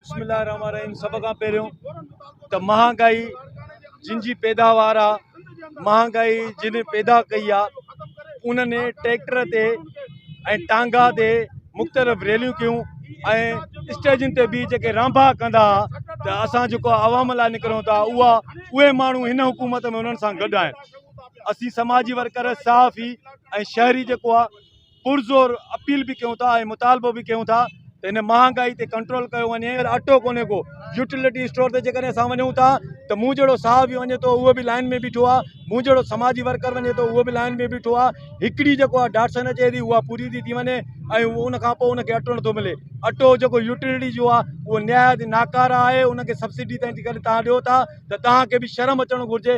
بسم الله الرحمن الرحيم سڀ کان پهريون ته مهانگائي جن جي پيداوار آ مهانگائي جن پيدا ڪئي آ انهن ٽريڪٽر تي ۽ ٽانگا تي مختلف ريليون ڪيون ۽ اسٽيجن تي به جيڪي رانڀا ڪندا ته اسان جيڪو عوام لاء نڪرون ٿا اها اهي ماڻهو هن حڪومت ۾ انهن سان گڏ آهن اسين سماجي ورڪر صحافي ۽ شهري جيڪو آ پرزور اپيل به ڪيون ٿا ۽ مطالبو به ڪيون ٿا ته هن مهانگائي تي ڪنٽرول ڪيو وڃي ۽ اٽو ڪونهي ڪو يوٽيلٽي اسٽور تي جيڪڏهن اسان وڃون ٿا ته مون جهڙو ساهه به وڃي ٿو اهو به لائن ۾ بيٺو آ مون جهڙو سماجي ورڪر وڃي ٿو اهو به لائن ۾ بيٺو آ هڪڙي جيڪو آ ڊاٽسن اچي ٿي اها پوري ٿي ٿي وڃي ۽ ان کان پوء ان کي اٽو نٿو ملي اٽو جيڪو يوٽيلٽي جو آ اهو نهايت ناڪاره آهي ان کي سبسڊي تائين جيڪڏهن تان ڏيو ٿا ته تان کي به شرم اچڻ گهرجي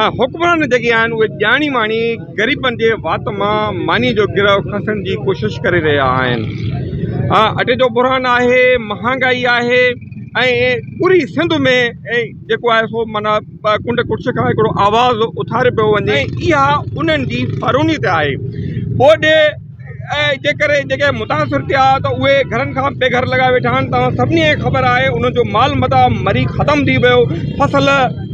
۽ حڪمران جيڪي آهن اهي ڄاڻي واڻي غريبن جي وات مان ماني جو گرهه کنسڻ جي ڪوشش ڪري رهيا آهن ۽ اٽي جو بحران آهي مهانگائي آهي ۽ پوري سنڌ ۾ جيڪو آهي سو معنيٰ ڪنڊ ڪڙڇ کان هڪڙو آواز اٿاري پيو وڃي اها انهن جي فروني تي آهي ٻوڏ ۽ جيڪر جيڪي متاثر ٿيا ته اهي گهرن کان بي گهر لڳا ويٺا آهن توهان سڀني کي خبر آهي انهن جو مال متا مري ختم ٿي ويو فصل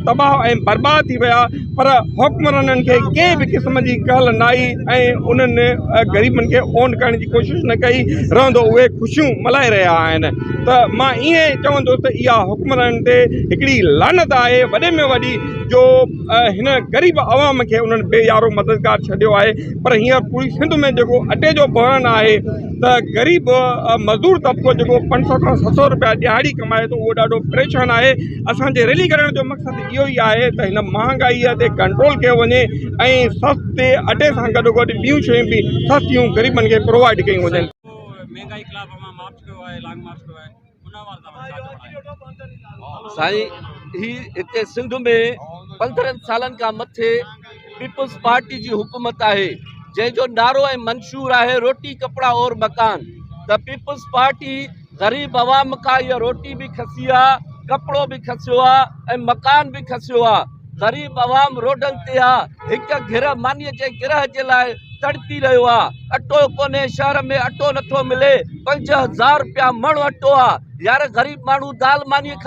تباهه ۽ برباد ٿي ويا پر حڪمرانن کي ڪنهن به قسم جي ڪهل نه آئي ۽ انهن غريبن کي اونڌ ڪرڻ جي ڪوشش نه ڪئي رهندو اهي خوشيون ملهائي رهيا آهن ته مان ايئن چوندو ته اها حڪمرانن تي هڪڙي لعنت آهي وڏي ۾ وڏي جو هن غريب عوام کي انهن بي يارو مددگار ڇڏيو آهي پر هينئر پوري سنڌ ۾ جيڪو اٽي جو بحران آهي ته غريب مزدور طبقو جيڪو پنج سؤ کان ست سؤ روپيا ڏهاڙي ڪمائي ٿو اهو ڏاڍو پريشان آهي اسانجي ريلي ڪرڻ جو مقصد اهو ئي آهي ته هن مهانگائي تي ڪنٽرول ڪيو وڃي ۽ سستي اٽي سان گڏو گڏ ٻيون شيون به سستيون غريبن کي پرووائيڊ ڪيون وڃن سائين هي هتي سنڌ ۾ پندرهن سالن کان مٿي پيپلز پارٽي جي حڪومت آهي جنهن جو نعرو ۽ منشور آهي روٽي ڪپڙا اور مڪان ته پيپلز پارٽي غريب عوام کان اها روٽي به کسي آهي ڪپڙو به کسيو آهي ۽ مڪان به کسيو آهي غريب عوام روڊن تي آ، هڪ گهر مانيء جي گرهه جي لاء تڙپي رهيو آ، اٽو ڪونهي، شهر ۾ اٽو نٿو ملي، پنج هزار رپيا مڻ اٽو آ، يار غريب ماڻهو دال ماني کائي.